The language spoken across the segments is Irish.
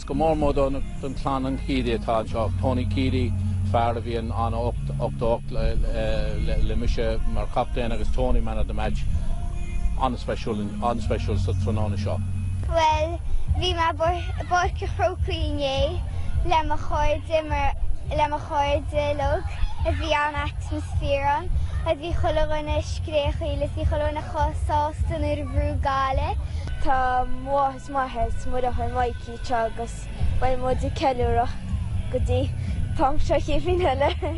Is go mór mór don chlann an Keady atá anseo, Tony Keady, fear a bhí ann in 88 le mise mar chaptaen agus Tony man of the match an-speisialta tráthnóna seo. Bhuel, bhí mé i bPáirc an Chrócaigh inné le mo chairde uilig, bhí an-atmaisféar ann, bhí chuile dhuine ag scréachaíl is bhí chuile dhuine chomh sásta nuair a bhuaigh Gaillimh. Tá Is maith an smideadh ar Mhikey seo agus beidh muid ag ceiliúradh go dtí an t-am seo an chéad bhliain eile.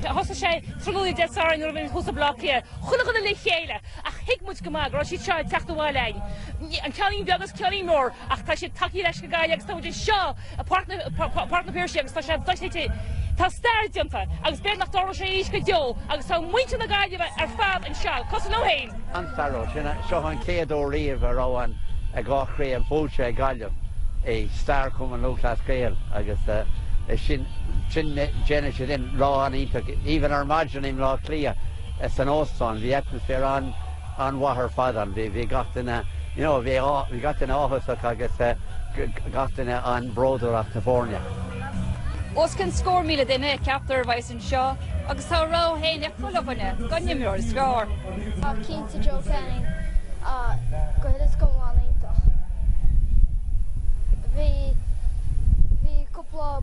Thosaigh sé tráthnóna Dé Sathairn nuair a bhí thuas ag Baile Átha Cliath. Chuile dhuine le chéile ach thuig muid go maith go raibh siad seo ag teacht abhaile againn, an ceaintín beag agus an ceaintín mór, ach tá siad tagtha anois go Gaillimh agus tá muid anseo! Páirc na Péirse agus tá sé dochreidte. Tá stair déanta agus b'fhéidir nach dtarlóidh sé arís go deo agus tá muintir na Gaillimhe ar fad anseo, cosúil liom féin! An-stairiúil. Sin seo an chéad uair riamh a raibh an dhá chraobh buaite ag Gaillimh i stair Chumann Lúthchleas Gael agus sin, déanann sé sin lá an-iontach. Even ar maidin i mBleá Cliath san óstán bhí atmaisféar an. an-mhaith ar fad ann. Bhí gach duine, you know, bhí gach duine áthasach agus gach duine an-bhródúil as na foirne. Os cionn scór míle duine a cheaptar a bheas anseo agus tá a rogha féin ag chuile dhuine den imreoir is fearr. Tá cinnte Joe Canning á gcuireadh go mall iontach. Bhí, bhí cúpla.